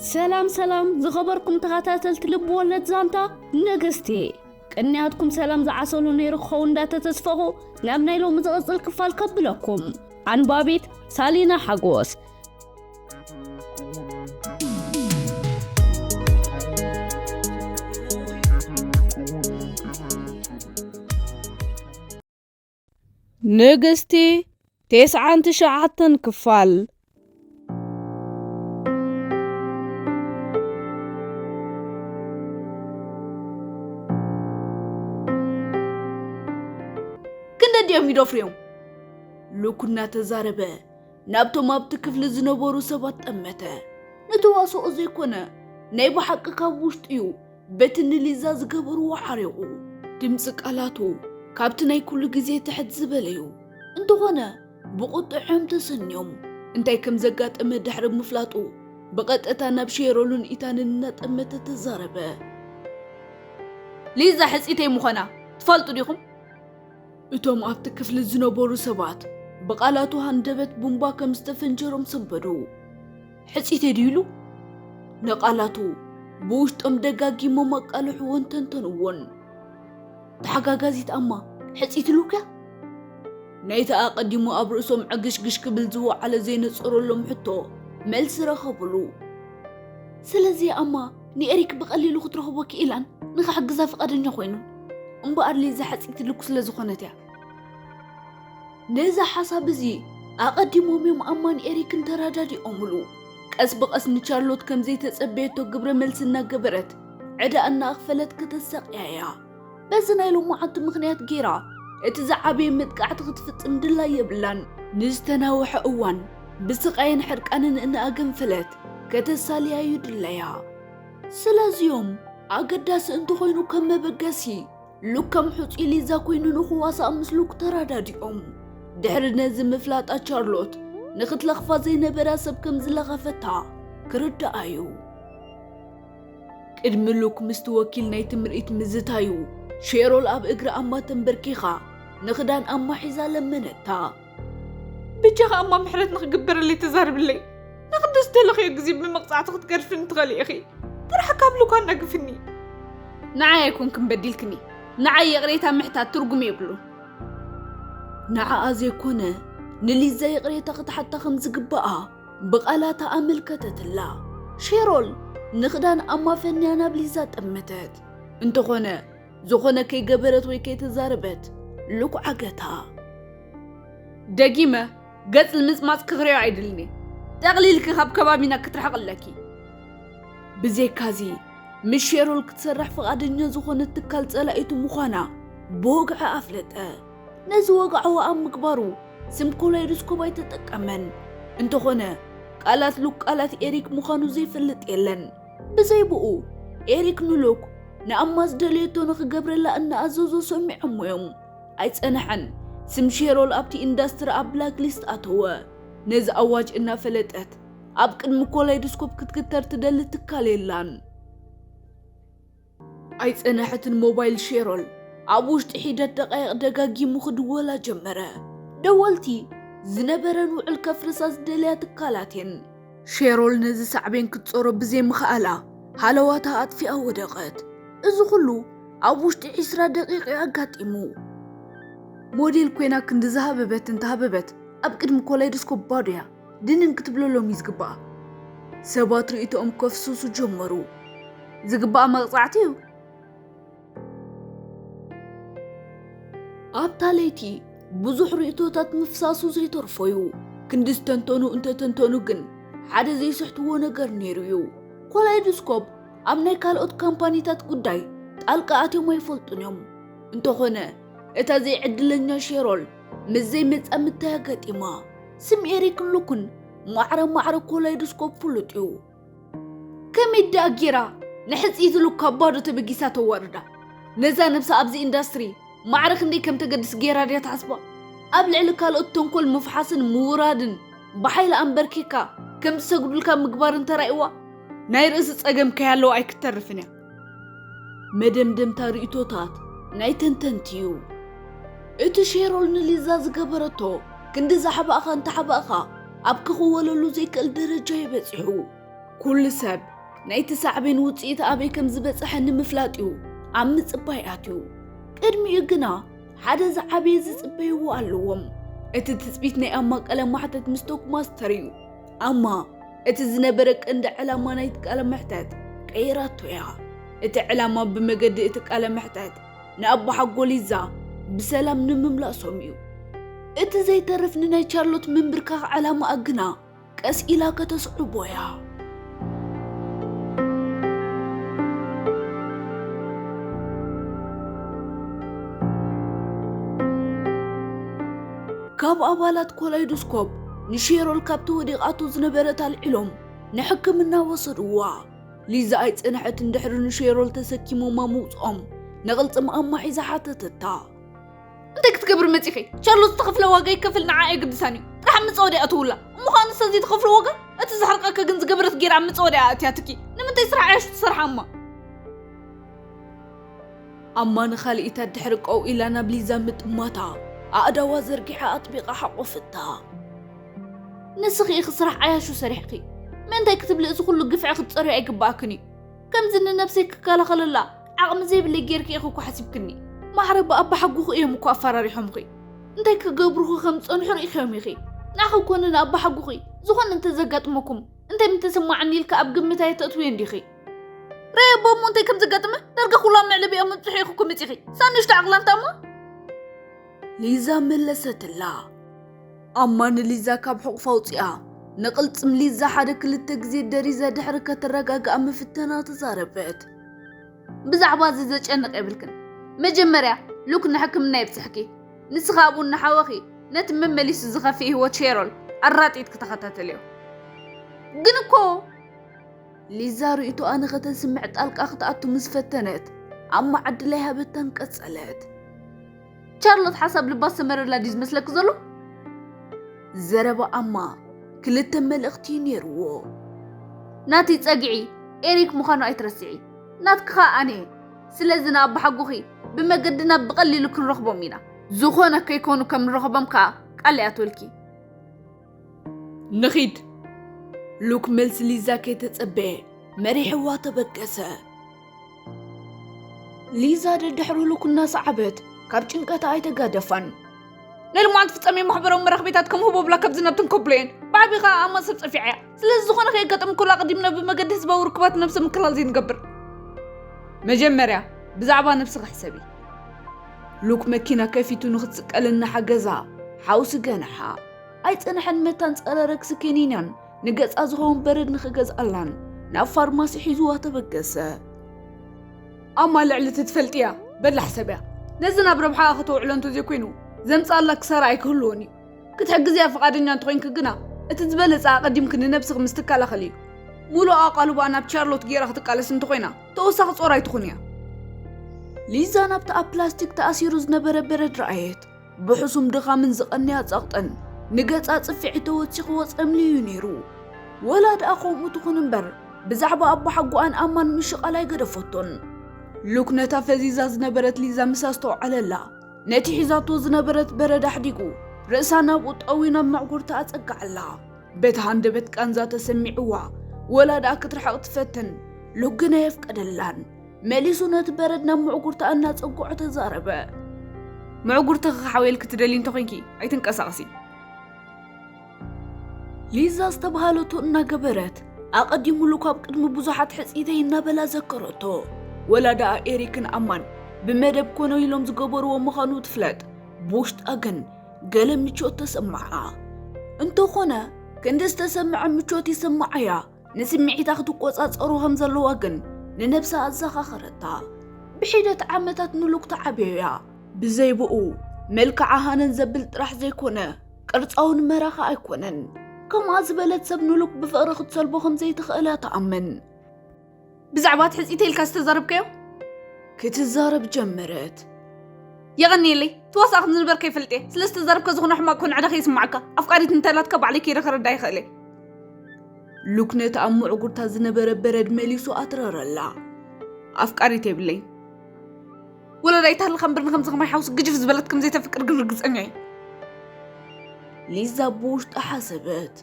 ሰላም ሰላም ዝኸበርኩም ተኸታተልቲ ልቢ ወለድ ዛንታ ነገስቲ ቅንያትኩም ሰላም ዝዓሰሉ ነይሩ ክኸው እንዳተተስፈኹ ናብ ናይ ሎሚ ዝቕፅል ክፋል ከብለኩም ኣንባቢት ሳሊና ሓጎስ ንግስቲ ቴስዓን ትሽዓተን ክፋል ክንደዲኦም ይደፍርዮም ልኩ እናተዛረበ ናብቶም ኣብቲ ክፍሊ ዝነበሩ ሰባት ጠመተ ነተዋስኦ ዘይኮነ ናይ ብሓቂ ካብ ውሽጡ እዩ በቲ ንሊዛ ዝገበርዎ ዓሪቑ። ድምጺ ቃላቱ ካብቲ ናይ ኩሉ ግዜ ትሕት ዝበለ'ዩ። እንተኾነ ብቑጥዐ'ዮም ተሰንዮም። እንታይ ከም ዘጋጠመ ድሕሪ ምፍላጡ ብቐጥታ ናብ ሼሮልን ኢታንን እናጠመተ ተዛረበ። ሊዛ ሕጽይተይ ምዃና ትፈልጡ ዲኹም? እቶም ኣብቲ ክፍሊ ዝነበሩ ሰባት ብቓላቱ ሃንደበት ቡምባ ከም ዝተፈንጀሮም ሰምበዱ። ሕጺተይ ድዩ ኢሉ ንቓላቱ ብውሽጦም ደጋጊሞም ኣቃልሕዎን ተንተንዎን። ተሓጋጋዚት ኣማ ሕጺት ኢሉክያ? ናይቲ ኣቐዲሙ ኣብ ርእሶም ዕግሽግሽ ክብል ዝወዓለ ዘይነጸረሎም ሕቶ መልሲ ረኸቡሉ። ስለዚ ኣማ ንኤሪክ ብቐሊሉ ክትረኽቦ ክኢላን ንኽሕግዛ ፍቓደኛ ኮይኑን። እምበኣር ሊዛ ሕጺት ኢሉኩ ስለ ዝኾነት እያ። ነዚ ሓሳብ እዚ ኣቐዲሞም እዮም ኣማን ኤሪክን ተረዳዲኦምሉ። ቀስ ብቐስ ንቻርሎት ከም ዘይተጸበየቶ ግብረ መልሲ እናገበረት ዕዳኣ እናኣኽፈለት ከተሳቕያ እያ። በዚ ናይ ሎማዓንቲ ምኽንያት ገይራ እቲ ዝዓበየ መጥቃዕቲ ክትፍጽም ድላይ የብላን። ንዝተናውሐ እዋን ብስቓይን ሕርቃንን እናኣገንፈለት ከተሳልያ እዩ ድላያ። ስለዚ እዮም ኣገዳሲ እንተኾይኑ ከም መበገሲ ሉክ ከም ሑጹይ ሊዛ ኮይኑ ንኽዋሳእ ምስ ሉክ ተራዳዲኦም ድሕሪ ነዚ ምፍላጣ ቻርሎት ንኽትለኽፋ ዘይነበራ ሰብ ከም ዝለኸፈታ ክርዳኣ እዩ ቅድሚ ሉክ ምስቲ ወኪል ናይቲ ምርኢት ምዝታዩ ሼሮል ኣብ እግራ ኣማ ተንበርኪኻ ንኽዳን ኣማ ሒዛ ለመነታ ብጃኻ እሞ ምሕረት ንኽግበረለይ ተዛርብለይ ንክንዲ ዝተለኽዮ ግዜ ብመቕፃዕቲ ክትገድፍኒ ትኽእሊ ኢኺ ጥራሕ ካብ ሉካ እናግፍኒ ንዓይ ኣይኮንክን በዲልክኒ ንዓይ ይቕሬታ ምሕታት ትርጉም የብሉ ንዓኣ ዘይኮነ ንሊዛ ይቕሬታ ክትሓታ ከም ዝግባኣ ብቓላታ ኣመልከተትላ ሼሮል ንኽዳን ኣማፈንያ ናብ ሊዛ ጠመተት እንተኾነ ዝኾነ ከይገበረት ወይ ከይተዛረበት ልኩዕ ኣገታ። ደጊመ ገጽ ንምጽማጽ ክኽሪዮ ኣይድልኒ ጠቕሊልኪ ካብ ከባቢና ክትርሕቕ ኣለኪ። ብዘይካዚ ምስ ሼሮል ክትሰርሕ ፍቓደኛ ዝኾነት ትካል ጸላኢቱ ምዃና ብወግዒ ኣፍለጠ። ነዚ ወግዓዊ ኣብ ምግባሩ ስም ኮላይዶስኮፕ ኣይተጠቀመን። እንተኾነ ቃላት ሉክ ቃላት ኤሪክ ምዃኑ ዘይፈልጥ የለን። ብዘይ ብኡ፣ ኤሪክ ንሉክ ንኣማ ዝደለየቶ ንኽገብረላ እናኣዘዞ ሰሚዖምዎ'ዮም። ኣይጸንሐን፣ ስም ሼሮል ኣብቲ ኢንዳስትሪ ኣብ ብላክ ሊስት ኣተወ። ነዚ ኣዋጅ እናፈለጠት ኣብ ቅድሚ ኮላይዶስኮፕ ክትግተር ትደሊ ትካል የላን። ኣይጸነሐትን ሞባይል ሼሮል ኣብ ውሽጢ ሒደት ደቓይቕ ደጋጊሙ ክድወላ ጀመረ። ደወልቲ ዝነበረን ውዕል ከፍርሳ ዝደለያ ትካላት እየን። ሼሮል ነዚ ሳዕቤን ክትጾሮ ብዘይምኽኣላ ሃለዋታ ኣጥፊኣ ወደቐት። እዚ ኹሉ ኣብ ውሽጢ ዕስራ ደቒቕ እዩ ኣጋጢሙ። ሞዴል ኮይና ክንዲ ዝሃበበት እንተሃበበት ኣብ ቅድሚ ኮላይዶስኮፕ ባዶ እያ። ድንን ክትብለሎም እዩ ዝግባእ። ሰባት ርእይቶኦም ከፍስሱ ጀመሩ። ዝግባእ መቕጻዕቲ እዩ። ኣብታ ለይቲ ብዙሕ ርእይቶታት ምፍሳሱ ዘይተርፎ እዩ። ክንዲ ዝተንተኑ እንተተንተኑ ግን ሓደ ዘይስሕትዎ ነገር ነይሩ እዩ። ኮላይዶስኮፕ ኣብ ናይ ካልኦት ካምፓኒታት ጉዳይ ጣልቃ ኣትዮም ኣይፈልጡን እዮም። እንተኾነ እታ ዘይዕድለኛ ሼሮል ምስ ዘይመጻምድታያ ገጢማ። ስም ኤሪክ ሉኩን ማዕረ ማዕረ ኮላይዶስኮፕ ፍሉጥ እዩ። ከመይ ደኣ ጌራ ንሕጽ ኢዚ ሉክ ካብ ባዶ ተበጊሳ ተዋርዳ? ነዛ ነብሳ ኣብዚ ኢንዳስትሪ ማዕረ ክንደይ ከም ተገድስ ጌራ ድያ ትሓስባ? ኣብ ልዕሊ ካልኦት ተንኮል ምፍሓስን ምውራድን ብሓይሊ ኣምበርኪኽካ ከም ዝሰግዱልካ ምግባርን ተራእዩዋ? ናይ ርእሲ ጸገም ከይሃለዋ ኣይክተርፍን እያ። መደምደምታ ርእይቶታት ናይ ተንተንቲ እዩ። እቲ ሼሮል ንሊዛ ዝገበረቶ ክንዲ ዛሕባእኻ እንተሓባእኻ ኣብ ክኽወለሉ ዘይክእል ደረጃ እዩ በጺሑ። ኩሉ ሰብ ናይቲ ሳዕቤን ውጽኢት ኣበይ ከም ዝበጽሐ ንምፍላጥ እዩ ኣብ ምጽባይ ኣትዩ። ቅድሚኡ ግና ሓደ ዝዓበየ ዝጽበይዎ ኣለዎም። እቲ ትጽቢት ናይ ኣማ ቀለም ማሕተት ምስ ቶክማስተር እዩ። ኣማ እቲ ዝነበረ ቀንዲ ዕላማ ናይቲ ቃለ መሕተት ቀይራቶ እያ። እቲ ዕላማ ብመገዲ እቲ ቃለ መሕተት ንኣቦሓጎ ሊዛ ብሰላም ንምምላሶም እዩ። እቲ ዘይተርፍ ንናይ ቻርሎት ምንብርካኽ ዕላማኣ ግና ቀስ ኢላ ከተስዕቦ እያ። ካብ ኣባላት ኮላይዶስኮፕ ንሼሮል ካብቲ ወዲቓቶ ዝነበረት ኣልዒሎም ንሕክምና ወሰድዋ። ሊዛ ኣይጸንሐትን ድሕሪ ንሼሮል ተሰኪሞማ ምውጽኦም ንቕልጽም ኣማሒዛ ሓተተታ። እንታይ ክትገብሪ መጺኺ? ቻርሎስ ዝተኸፍለ ዋጋ ይከፈል ንዓ ኣየግድሳን እዩ። ጥራሕ መጻወድያ ኣተውላ። እሞ ኸኣ ንሳ ዘይትኸፍሎ ዋጋ? እቲ ዘሕርቀካ ግን ዝገበረት ገይራ ኣብ መጻወድያ ኣእትያትኪ። ንምንታይ ስራሕ እያሽ ትሰርሓ እሞ? ኣማ ንኻልኢታ ድሕሪ ቀው ኢላ ናብ ሊዛ ምጥማታ፣ ኣእዳዋ ዘርጊሓ ኣጥቢቓ ሓቖፈታ። ንስኺ ኢኺ ስራሕ ዓያሹ ሰሪሕኺ፣ ምእንታይ ክትብሊ እዚ ኹሉ ግፍዒ ክትጸርዮ ኣይግብኣክን እዩ። ከምዚ ንነብሰይ ክከላኸለላ ዓቕሚ ዘይብለይ ጌርኪ ኢኺ እኮ ሓሲብክኒ። ማዕረ ብኣባሓጎኺ እዮም እኮ ኣፈራሪሖምኺ። እንታይ ክገብሩኺ ከም ዝጸንሑ ርኢኺዮም ኢኺ። ንዓኺ ኮነ ንኣባሓጎኺ ዝኾነ እንተ ዘጋጥመኩም እንታይ ምተሰማዓኒ ኢልኪ ኣብ ግምት ኣየተእትውዮን ዲኺ? ረየቦ እሞ እንታይ ከም ዘጋጥመ ዳርጋ ኩሉ ኣብ መዕለቢኦም ምብፅሑ ኢኹ እኮ መፂኺ ሳብ ንእሽቶ ዓቕላልታ እሞ ሊዛ መለሰትላ ኣማ ንሊዛ ካብ ሕቑፍ ኣውፂኣ ንቕልፅም ሊዛ ሓደ ክልተ ግዜ ደሪዛ ድሕሪ ከተረጋግኣ ምፍተና ተዛረበት ብዛዕባ እዚ ዘጨንቕ የብልክን መጀመርያ ሉክ ንሕክምና የብፅሕኪ ንስኻ ኣብኡ እናሓወኺ ነቲ መመሊሱ ዝኸፍእ ህይወት ሼሮል ኣራጢት ክተኸታተልዮ ግን እኮ ሊዛ ርእይቶኣ ንኸተስምዕ ጣልቃ ክትኣቱ ምስ ፈተነት፣ ኣማ ዕድል ኣይሃበታን ቀጸለት። ቻርሎት ሓሳብ ልባ ዝሰመረላ ድዩ ዝመስለኪ ዘሎ? ዘረባ ኣማ ክልተ መልእኽቲ እዩ ነይርዎ። ናቲ ጸግዒ ኤሪክ ምዃኑ ኣይትረስዒ፣ ናትኪ ኸኣ ኣነ እየ። ስለዚ ንኣቦሓጎኺ ብመገድና ብቐሊሉ ክንረኽቦም ኢና። ዝኾነ ከይኮኑ ከም ንረኽቦም ከኣ ቃል ይኣትወልኪ። ንኺድ ሉክ መልሲ ሊዛ ከይተጸበየ መሪሕዋ ተበገሰ ሊዛ ደድሕሩ ሉክ እናሰዓበት ካብ ጭንቀታ ኣይተጋደፋን ንልማት ፍጻሜ ማሕበራዊ መራኽቢታት ከም ህቦ ብላ ካብ ዝናብትን ኮብሎየን ብዓቢ ከዓ ኣማ ሰብ ጸፊዓ እያ ስለዚ ዝኾነ ከየጋጠም ከሎ ኣቐዲምና ብመገዲ ህዝባዊ ርክባት ነብሰ ምክላል ዘይንገብር መጀመርያ ብዛዕባ ነብሲ ክሕሰብ ሉክ መኪና ከፊቱ ንክትስቀል እናሓገዛ ሓውሲ ገንሓ ኣይጸንሐን መታን ጸረ ረግሲ ኪኒናን ንገጻ ዝኸውን በረድ ንኽገዝኣላን ናብ ፋርማሲ ሒዙዋ ተበገሰ። ኣማ ልዕሊ እቲ ትፈልጥያ በላ ሕሰብያ። ነዚ ናብ ረብሓኣ ከተውዕሎ እንተዘይኮይኑ ዘምጽኣላ ክሳራ ኣይክህልዎን እዩ። ክትሕግዝያ ፍቓደኛ እንተኾይንኪ ግና እቲ ዝበለጸ ኣቐዲምኪ ንነብስኺ ምስ ትከላኸሊ እዩ። ሙሉእ ኣቓልቦኣ ናብ ቻርሎት ጌራ ክትቃለስ እንተኾይና ተወሳኺ ጾር ኣይትኹንያ። ሊዛ ናብቲ ኣብ ፕላስቲክ ተኣሲሩ ዝነበረ በረድ ረኣየት። ብሕሱም ድኻምን ዝቐንያ ጸቕጥን ንገጻ ጽፍዒት ተወሲኽዎ ጸምልዩ'ዩ ነይሩ። ወላ ደኣ ከምኡ ትኹን እምበር ብዛዕባ ኣቦሓጎኣን ኣማን ምሽቓል ኣይገደፈቶን። ሉክ ነታ ፈዚዛ ዝነበረት ሊዛ ምስ ኣስተውዓለላ፣ ነቲ ሒዛቶ ዝነበረት በረድ ኣሕዲጉ ርእሳ ናብኡ ጠውዩ ናብ መዕጉርታ ኣጸግዓላ። በቲ ሃንደበት ቃንዛ ተሰሚዕዋ ወላ ደኣ ክትርሕቕ ትፈትን፣ ሉክ ግን ኣየፍቀደላን። መሊሱ ነቲ በረድ ናብ ምዕጉርታ እናጸግዖ ተዛረበ። ምዕጉርትኺ ክሓውየልኪ ትደልዪ እንተ ኾይንኪ ኣይትንቀሳቐሲ። ሊዛ ዝተብሃለቶ እናገበረት ኣቐዲሙሉ ካብ ቅድሚ ብዙሓት ሕጽይተይ እናበላ ዘከረቶ። ወላ ደኣ ኤሪክን ኣማን ብመደብ ኮነ ኢሎም ዝገበርዎ ምዃኑ ትፍለጥ፣ ብውሽጣ ግን ገለ ምቾት ተሰምዓ። እንተኾነ ክንዲ ዝተሰምዐ ምቾት ይስምዓያ ንስምዒታ ክትቆጻጸሮ ከም ዘለዋ ግን ንነብሳ ኣዘኻኸረታ። ብሒደት ዓመታት ምሉክ ትዓብዮ እያ። ብዘይ ብኡ መልክዓ ሃነን ዘብል ጥራሕ ዘይኮነ ቅርጻውን መራኻ ኣይኮነን። ከምኣ ዝበለት ሰብ ንሉክ ብፍቕሪ ክትሰልቦ ከም ዘይትኽእል እያ ትኣምን። ብዛዕባ ትሕፅኢተ ኢልካ ዝተዛረብካዮ ክትዛረብ ጀመረት የቐኒየለይ ትዋሳእ ከም ዝንበር ከይፈልጥ እየ ስለ ዝተዛረብካ ዝኾነ ሕማቅ ኮን ዕዳ ከይስማዓካ ኣፍቃሪት እንተላትካ ባዕለይ ከይደ ክረዳ ይኽእል እየ ሉክ ነቲ ኣብ ምዕጉርታ ዝነበረ በረድ መሊሱ ኣትረረላ ኣፍቃሪት የብለይ ወለዳ ይታሃልካ እምበር ንከምዚ ከማይ ሓውስ ግጅፍ ዝበለት ከም ዘይተፍቅር ግን ርግፀኛ እዩ ሊዛ ብውሽጣ ሓሰበት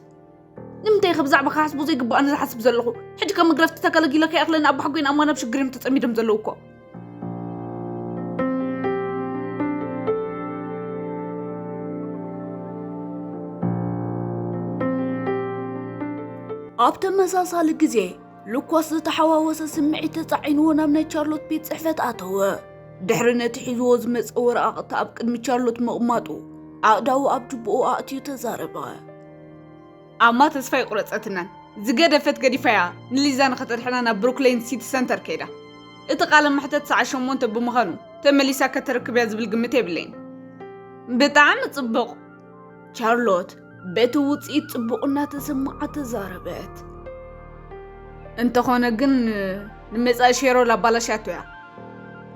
ንምንታይ ኢኸ ብዛዕባ ክሓስቡ ዘይግባእ ንዝሓስብ ዘለኹ ሕጂ ከም መግረፍቲ ተገለጊለ ከይኣኽለኒ ኣብ ባሕጎይን ኣማን ኣብ ሽግር እዮም ተጸሚዶም ዘለዉ እኮ ኣብ ተመሳሳሊ ግዜ ሉኮስ ዝተሓዋወሰ ስምዒት ተጻዒንዎ ናብ ናይ ቻርሎት ቤት ጽሕፈት ኣተወ ድሕሪ ነቲ ሒዝዎ ዝመጸ ወረቓቕቲ ኣብ ቅድሚ ቻርሎት ምቕማጡ ኣእዳዉ ኣብ ጅብኡ ኣእትዩ ተዛረበ ኣማ ተስፋ ኣይቁረጸትናን ዝገደፈት ገዲፋያ ንሊዛ ንኸተድሕና ናብ ብሩክሌን ሲቲ ሰንተር ከይዳ እቲ ቃለ መሕተት ሰዓት ሸሞንተ ብምዃኑ ተመሊሳ ከተረክብያ ዝብል ግምት የብለይን ብጣዕሚ ጽቡቕ ቻርሎት በቲ ውጽኢት ጽቡቕ እናተሰማዓ ተዛረበት እንተኾነ ግን ንመጻኢ ሼሮል ኣባላሻቶ እያ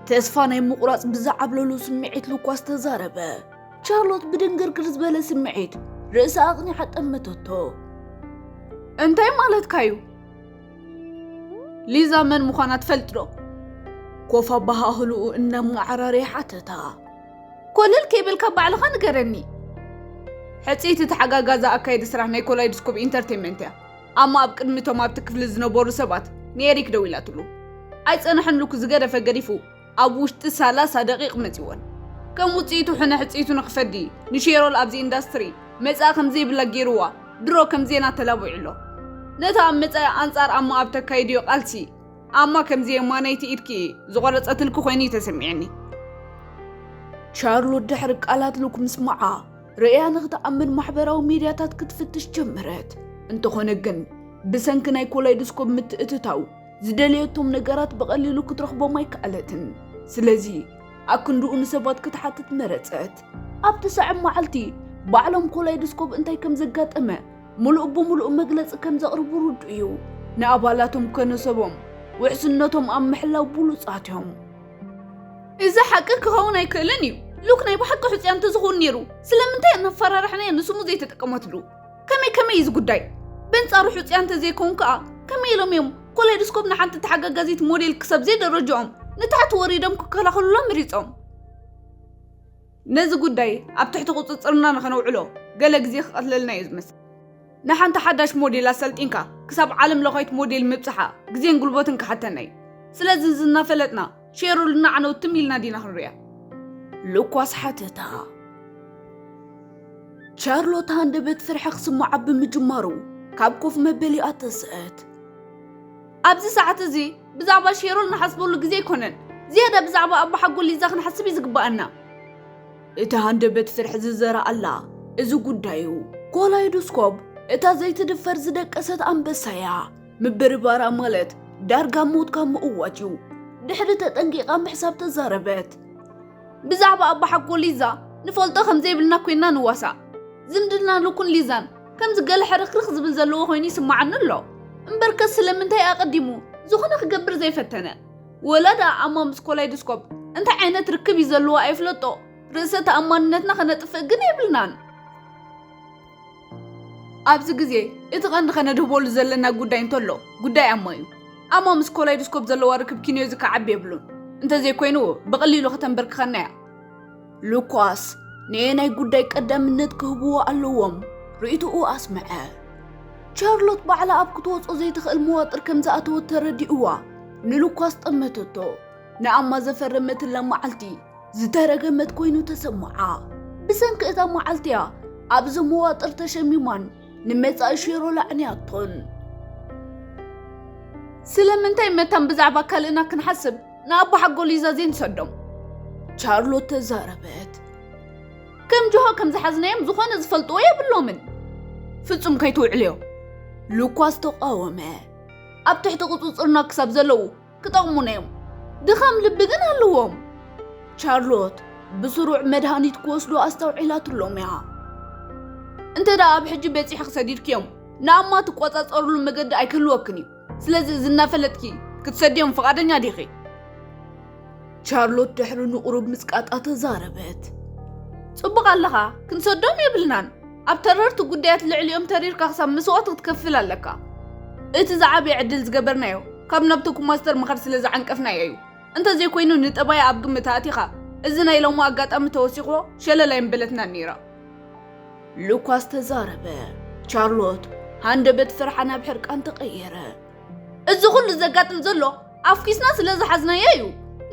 ተስፋ ናይ ምቑራጽ ብዝዓብለሉ ስምዒት ሉኳስ ተዛረበ ቻርሎት ብድንግርግር ዝበለ ስምዒት ርእሳ ኣቕኒዓ ጠመተቶ። እንታይ ማለትካ እዩ? ሊዛ መን ምዃና ትፈልጥ ዶ? ኮፍ ኣበሃህልኡ እናመዓራረየ ሓተታ። ኮለል ከይበልካ ባዕልኻ ንገረኒ። ሕጽይቲ ተሓጋጋዛ ኣካየዲ ስራሕ ናይ ኮላይድስኮፕ ኢንተርቴንመንት እያ ኣማ ኣብ ቅድሚ እቶም ኣብቲ ክፍሊ ዝነበሩ ሰባት ንኤሪክ ደዊላትሉ ኣይጸንሐን ልኩ ዝገደፈ ገዲፉ ኣብ ውሽጢ ሰላሳ ደቂቕ መጺወን። ከም ውጽኢቱ ሕነ ሕጽይቱ ንክፈዲ ንሼሮል ኣብዚ ኢንዳስትሪ መጻኢ ከምዘይብላ ገይሩዋ ድሮ ከም ዜና ተላቢዑ ኣሎ። ነታ ኣብ መጻኢ ኣንጻር ኣማ ኣብ ተካይድዮ ቃልሲ ኣማ ከምዚ የማነይቲ ኢድኪ ዝቖረጸትልኪ ኮይኑ እዩ ተሰሚዑኒ። ሻርሎት ድሕሪ ቃላት ሉክ ምስማዓ ርእያ ንክትኣምን ማሕበራዊ ሚድያታት ክትፍትሽ ጀመረት። እንተኾነ ግን ብሰንኪ ናይ ኮላይዶስኮፕ ምትእትታው ዝደለየቶም ነገራት ብቐሊሉ ክትረኽቦም ኣይከኣለትን። ስለዚ ኣክንድኡ ንሰባት ክትሓትት መረጸት። ኣብቲ ሰዕብ መዓልቲ ባዕሎም ኮላይዶስኮብ እንታይ ከም ዘጋጠመ ምሉእ ብምሉእ መግለጺ ከም ዘቕርቡ ርዱእ እዩ። ንኣባላቶም ከነ ሰቦም ውሕስነቶም ኣብ ምሕላው ብሉጻት እዮም። እዚ ሓቂ ክኸውን ኣይክእልን እዩ። ሉክ ናይ ብሓቂ ሕጹያ እንተዝኸውን ነይሩ ስለምንታይ ኣናፈራርሕናያ ንስሙ ዘይተጠቀመትሉ? ከመይ ከመይ እዩ እዚ ጉዳይ? በንጻሩ ሕጹያ እንተዘይከውን ከኣ ከመይ ኢሎም እዮም ኮሌዶስኮፕ ንሓንቲ ተሓጋጋዚት ሞዴል ክሰብ ዘይደረጅኦም ንታሕቲ ወሪዶም ክከላኸሉላ መሪጾም? ነዚ ጉዳይ ኣብ ትሕቲ ቁጽጽርና ንኸነውዕሎ ገለ ግዜ ክቐትለልና እዩ ዝመስል። ንሓንቲ ሓዳሽ ሞዴል ኣሰልጢንካ ክሳብ ዓለም ለኻዊት ሞዴል ምብጽሓ ግዜን ጉልበትን ክሓተና እዩ። ስለዚ እዚ እናፈለጥና ፌሩልና ዓነው ትም ኢልና ዲና ክንሪኣ? ሉኳስ ሓተታ። ቻርሎት ሃንደበት ፍርሒ ክስምዓ ብምጅማሩ ካብ ኮፍ መበሊኣ ተስእት። ኣብዚ ሰዓት እዚ ብዛዕባ ሼሮል ንሓስበሉ ግዜ ኣይኮነን። ዝያዳ ብዛዕባ ኣቦሓጎ ሊዛ ክንሓስብ እዩ ዝግባኣና። እቲ ሃንደበት ፍርሒ ዝዘረኣላ እዚ ጉዳዩ ኮላይዶስኮፕ እታ ዘይትድፈር ዝደቀሰት ኣንበሳ እያ። ምብርባራ ማለት ዳርጋ ሞትካ ምእዋጅ እዩ። ድሕሪ ተጠንቂቓ ምሕሳብ ተዛረበት። ብዛዕባ ኣባሓጎ ሊዛ ንፈልጦ ከም ዘይብልና ኮይንና ንዋሳእ። ዝምድና ሉክን ሊዛን ከምዚ ገለ ሕርኽርኽ ዝብል ዘለዎ ኮይኑ ይስምዓኒ ኣሎ። እምበርከስ ስለምንታይ ኣቐዲሙ ዝኾነ ክገብር ዘይፈተነ? ወላ ደኣ ኣማ ምስ ኮላይዶስኮፕ እንታይ ዓይነት ርክብ እዩ ዘለዎ ኣይፍለጦ፣ ርእሰ ተኣማንነትና ከነጥፍእ ግን የብልናን። ኣብዚ ግዜ እቲ ቀንዲ ከነድህበሉ ዘለና ጉዳይ እንተሎ ጉዳይ ኣሞ እዩ። ኣሞ ምስ ኮላይዶስኮፕ ዘለዋ ርክብ ኪንዮ ዝከዓቢ የብሉን። እንተዘይኮይኑ ብቐሊሉ ከተንበርክኸና እያ። ሉካስ ንየናይ ጉዳይ ቀዳምነት ክህብዎ ኣለዎም ርእይቶኡ ኣስምዐ። ቻርሎት ባዕላ ኣብ ክትወጾ ዘይትኽእል መዋጥር ከም ዝኣተወት ተረዲእዋ ንሉካስ ጠመተቶ። ንኣማ ዘፈረመትላ መዓልቲ ዝተረገመት ኮይኑ ተሰምዓ። ብሰንኪ እታ መዓልቲ እያ ኣብዚ መዋጥር ተሸሚማን ንመጻኢ ሼሮ ላዕንያቶን። ስለምንታይ መታን ብዛዕባ ካልእና ክንሓስብ ንኣቦ ሓጎል እዩ ዘዘይንሰዶም? ቻርሎት ተዛረበት። ከም ጆሆ ከም ዝሓዝናዮም ዝኾነ ዝፈልጥዎ የብሎምን። ፍጹም ከይትውዕልዮ። ሉኳስ ተቃወመ። ኣብ ትሕቲ ቁጽጽርና ክሳብ ዘለዉ ክጠቕሙና እዮም፣ ድኻም ልቢ ግን ኣለዎም። ቻርሎት ብስሩዕ መድሃኒት ክወስዱ ኣስተውዒላትሎም እያ። እንተ ደኣ ኣብ ሕጂ በጺሕኺ ሰዲድክዮም፣ ንኣማ ትቈጻጸርሉ መገዲ ኣይክህልወክን እዩ። ስለዚ እዚ እናፈለጥኪ ክትሰድዮም ፍቓደኛ ዲኺ? ቻርሎት ድሕሪ ንቝሩብ ምጽቃጣ ተዛረበት። ጽቡቕ ኣለኻ፣ ክንሰዶም የብልናን። ኣብ ተረርቲ ጉዳያት ልዕሊኦም ተሪርካ ክሳብ መስዋእቲ ክትከፍል ኣለካ። እቲ ዝዓበየ ዕድል ዝገበርናዮ ካብ ናብ ቶኩ ማስተር ምኻድ ስለ ዝዓንቀፍናዮ እዩ። እንተዘይኮይኑ ንጠባያ ኣብ ግምት ኣእቲኻ እዚ ናይ ሎሚ ኣጋጣሚ ተወሲኽዎ ሸለል ኣይምበለትናን ነይራ። ሉካስ ተዛረበ። ቻርሎት ሃንደበት ፍርሓ ናብ ሕርቃን ተቐየረ። እዚ ኩሉ ዘጋጥም ዘሎ ኣፍኪስና ስለ ዝሓዝናዮ እዩ።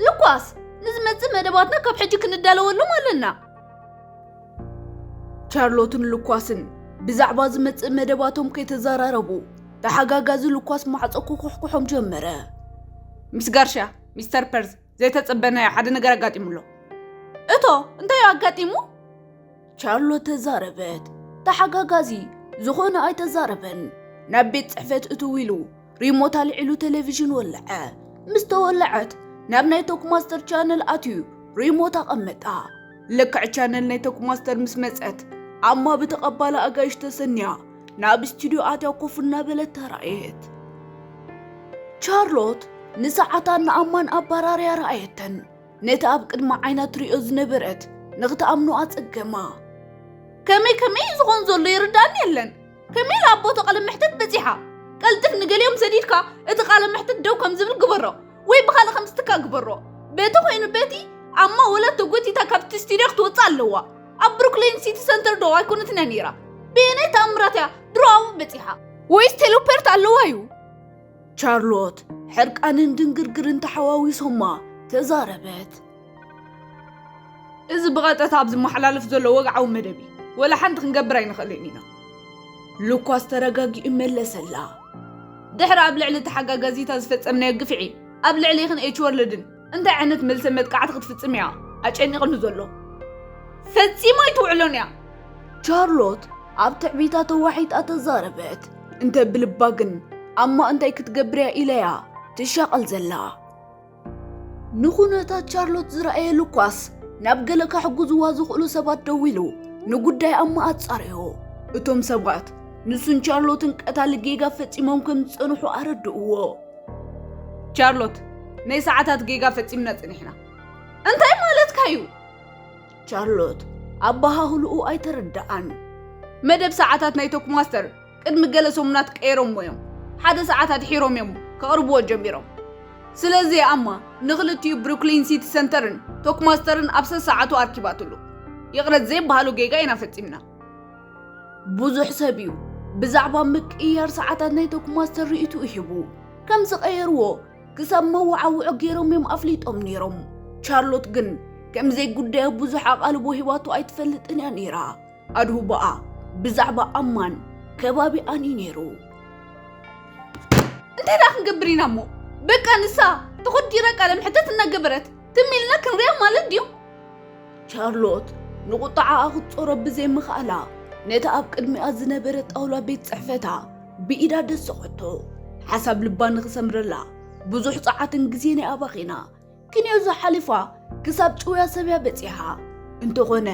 ሉካስ ንዝመጽእ መደባትና ካብ ሕጂ ክንዳለወሎም ኣለና። ቻርሎትን ሉኳስን ብዛዕባ ዝመጽእ መደባቶም ከይተዘራረቡ ተሓጋጋዚ ሉኳስ ማዕጾ ክኩሕኩሖም ጀመረ። ምስ ጋርሻ ሚስተር ፐርዝ ዘይተጸበናዮ ሓደ ነገር ኣጋጢሙ ኣሎ። እቶ እንታይ እዩ ኣጋጢሙ? ቻርሎት ተዛረበት። ተሓጋጋዚ ዝኾነ ኣይተዛረበን። ናብ ቤት ጽሕፈት እትው ኢሉ ሪሞት ኣልዒሉ ቴሌቪዥን ወለዐ። ምስ ተወለዐት ናብ ናይ ቶክማስተር ቻነል ኣትዩ ሪሞት ኣቐመጣ። ልክዕ ቻነል ናይ ቶክማስተር ምስ መጸት ኣማ ብተቐባሊ ኣጋይሽ ተሰንያ ናብ ስቱድዮ ኣትያ ኮፍ እናበለት ተራእየት። ቻርሎት ንሰዓታን ንኣማን ኣባራርያ ረኣየተን። ነቲ ኣብ ቅድሚ ዓይና ትሪኦ ዝነበረት ንኽትኣምኖ ኣጸገማ። ከመይ ከመይ እዩ ዝኾን ዘሎ ይርዳኒ የለን ከመይ ኢላ ኣቦቶ ቃለ መሕትት በጺሓ ቀልጥፍ ንገሊኦም ሰዲድካ እቲ ቃለ መሕትት ደው ከም ዝብል ግበሮ ወይ ብኻልእ ከም ዝትካ ግበሮ በቲ ኮይኑ በቲ ኣማ ወላ ተጎቲታ ካብቲ ስቱድዮ ክትወፅእ ኣለዋ ኣብ ብሩክሊን ሲቲ ሰንተር ዶ ኣይኮነትን እያ ነይራ ብየናይ ተኣምራት እያ ድሮ ኣብኡ በፂሓ ወይስ ቴሌፖርት ኣለዋ እዩ ቻርሎት ሕርቃንን ድንግርግርን ተሓዋዊሶማ ተዛረበት። እዚ ብቐጥታ ኣብ ዝመሓላለፍ ዘሎ ወግዓዊ መደብ እዩ። ወላ ሓንቲ ክንገብር ኣይንኽእልን ኢና። ሉኳስ ተረጋጊኡ መለሰላ። ድሕሪ ኣብ ልዕሊ ተሓጋጋዚታ ዝፈጸምናዮ ግፍዒ፣ ኣብ ልዕሌኽን ኤች ወርልድን እንታይ ዓይነት መልሰ መጥቃዕቲ ክትፍጽም እያ ኣጨኒቕኒ ዘሎ ፈጺሞ ኣይትውዕሎን እያ ቻርሎት ኣብ ትዕቢታ ተዋሒጣ ተዛረበት እንተ ብልባ ግን ኣማ እንታይ ክትገብር እያ ኢለያ ትሻቐል ዘላ ንኹነታት ቻርሎት ዝረኣየ ሉካስ ናብ ገለ ካሕጉዝዋ ዝኽእሉ ሰባት ደዊሉ ንጉዳይ ኣማ ኣጻርዮ እቶም ሰባት ንሱን ቻርሎትን ቀታሊ ጌጋ ፈጺሞም ከም ዝጸንሑ ኣረድእዎ ቻርሎት ናይ ሰዓታት ጌጋ ፈጺምና ጸኒሕና እንታይ ማለትካ እዩ ቻርሎት ኣበሃህልኡ ኣይተረድኣን መደብ ሰዓታት ናይ ቶክማስተር ቅድሚ ገለ ሰሙናት ቀይሮሞ እዮም ሓደ ሰዓት ኣድሒሮም እዮም ከቕርብዎ ጀሚሮም ስለዚ ኣማ ንክልቲኡ ብሩክሊን ሲቲ ሰንተርን ቶክማስተርን ኣብ ሰሰዓቱ ኣርኪባትሉ ይቕረት ዘይበሃሉ ጌጋ ኢና ፈጺምና ብዙሕ ሰብ እዩ ብዛዕባ ምቅይያር ሰዓታት ናይ ቶክማስተር ርእይትኡ ሂቡ ከም ዝቐየርዎ ክሳብ መወዓውዖ ገይሮም እዮም ኣፍሊጦም ነይሮም ቻርሎት ግን ከም ዘይጉዳዮ ብዙሕ ኣቓልቦ ሂባቶ ኣይትፈልጥን እያ ነይራ ኣድሁባኣ ብዛዕባ ኣማን ከባቢኣን እዩ ነይሩ እንታይ ደኣ ክንገብር ኢና እሞ በቃ ንሳ ተኾዲራ ቃለ መሕተት እናገበረት ትም ኢልና ክንሪኣ ማለት ድዩ ቻርሎት ንቝጥዓኣ ኽትጾሮ ብዘይ ምኽኣላ፣ ነታ ኣብ ቅድሚኣ ዝነበረት ጣውላ ቤት ጽሕፈታ ብኢዳ ደሰኾቶ። ሓሳብ ልባ ንኽሰምረላ ብዙሕ ጸዓትን ግዜን እያ ኣባኺና። ክንዮ'ዚ ሓሊፋ ክሳብ ጭውያ ሰብ'ያ በጺሓ። እንተዀነ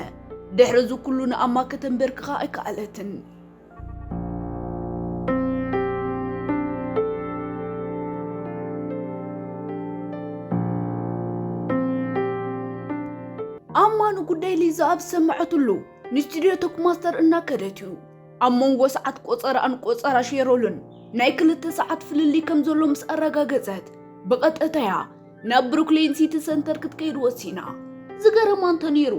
ድሕሪ እዚ ኵሉ ንኣማ ከተንበርክኻ ኣይከኣለትን። ኣማኑ ጉዳይ ሊዛ ኣብ ዝሰማዐትሉ ንስቱድዮ ቶክ ማስተር እናከደት እዩ ኣብ መንጎ ሰዓት ቆፀራኣን ቆፀራ ሼሮልን ናይ ክልተ ሰዓት ፍልልይ ከም ዘሎ ምስ ኣረጋገፀት ብቐጥታ እያ ናብ ብሩክሌን ሲቲ ሰንተር ክትከይድ ወሲና ዝገረማ እንተነይሩ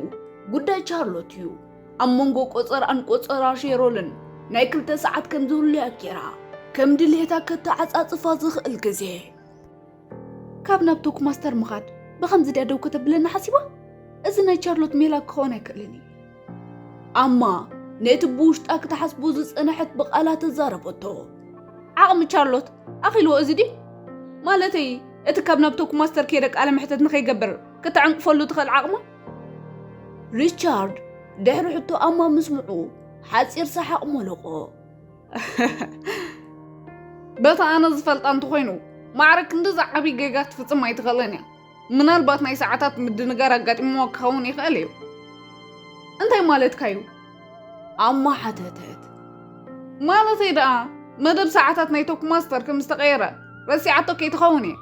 ጉዳይ ቻርሎት እዩ ኣብ መንጎ ቆጸራን ቆጸራ ሼሮልን ናይ ክልተ ሰዓት ከም ዝህሉያ ጌራ ከም ድልየታ ከተዓጻጽፋ ዝኽእል ግዜ ካብ ናብ ቶክ ማስተር ምኻድ ብኸምዚ ድያ ደው ከተብለና ሓሲባ እዚ ናይ ቻርሎት ሜላ ክኸውን ኣይክእልን እዩ ኣማ ነቲ ብውሽጣ ክትሓስቦ ዝጸነሐት ብቓላ ተዛረበቶ ዓቕሚ ቻርሎት ኣኺልዎ እዚ ድዩ ማለተይ እቲ ካብ ናብ ቶክ ማስተር ከይደ ቃለ መሕተት ንኸይገብር ከተዕንቅፈሉ ትኽእል ዓቕማ ሪቻርድ ድሕሪ ሕቶኣማ ምስምዑ ሓፂር ሰሓቕ ሞለቖ በታ ኣነ ዝፈልጣ እንተኾይኑ ማዕረ ክንድዚ ዓብዪ ጌጋ ክትፍፅም ኣይትኽእልን እያ ምናልባት ናይ ሰዓታት ምድንጋር ኣጋጢምዎ ክኸውን ይኽእል እዩ እንታይ ማለትካ እዩ ኣማ ሓተተት። ማለተይ ደኣ መደብ ሰዓታት ናይ ቶክ ማስተር ከም ዝተቐየረ ረሲዓቶ ከይትኸውን እየ።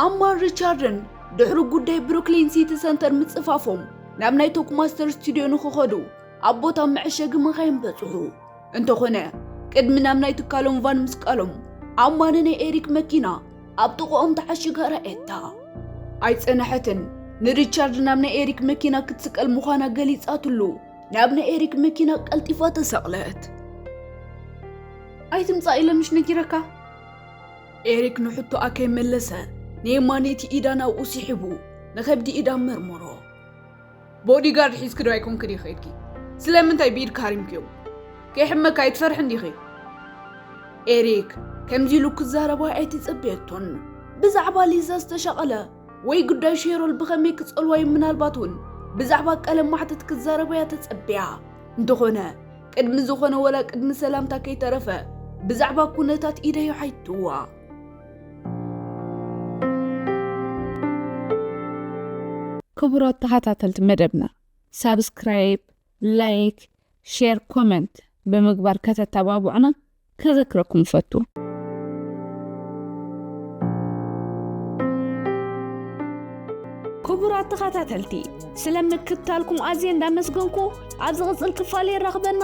ኣማን ሪቻርድን ድሕሪ ጉዳይ ብሩክሊን ሲቲ ሰንተር ምጽፋፎም ናብ ናይ ቶክ ማስተር ስቱድዮ ንክኸዱ ኣብ ቦታ መዐሸጊ መኻይን በጽሑ። እንተኾነ ቅድሚ ናብ ናይ ትካሎም ቫን ምስቃሎም ኣማነ ናይ ኤሪክ መኪና ኣብ ጥቕኦም ተዓሽጋ ረኣየታ። ኣይጸነሐትን ንሪቻርድ ናብ ናይ ኤሪክ መኪና ክትስቀል ምዃና ገሊጻትሉ ናብ ናይ ኤሪክ መኪና ቀልጢፋ ተሰቕለት። ኣይትምጻእ ኢለ ምሽ ነጊረካ? ኤሪክ ንሕቶኣ ከይመለሰ ንየማነይቲ ኢዳ ናብኡ ስሒቡ ንከብዲ ኢዳ መርመሮ። ቦዲ ጋርድ ሒዝኪ ዶ ኣይኮንኪ ዲኺ ከይድኪ? ስለምንታይ ብኢድኪ ሃሪምክዮም? ከይሕመካ ኣይትፈርሕን ዲኺ? ኤሪክ ከምዚ ኢሉ ክዛረባ ኣይትጽብየቶን። ብዛዕባ ሊዛ ዝተሻቐለ ወይ ጉዳይ ሼሮል ብኸመይ ክጸልዋ እዩ ምናልባት እውን ብዛዕባ ቀለም ማሕተት ክዛረባ እያ ተጸብያ። እንተኾነ ቅድሚ ዝኾነ ወላ ቅድሚ ሰላምታ ከይተረፈ ብዛዕባ ኩነታት ኢደዩ ሓይትዋ። ክቡራት ተኸታተልቲ መደብና ሳብስክራይብ ላይክ ሼር ኮመንት ብምግባር ከተተባብዑና ከዘክረኩም ፈቱ ክቡራት ተኸታተልቲ ስለምክታልኩም ኣዝየ እንዳመስገንኩ ኣብ ዝቕፅል ክፋል የራኽበና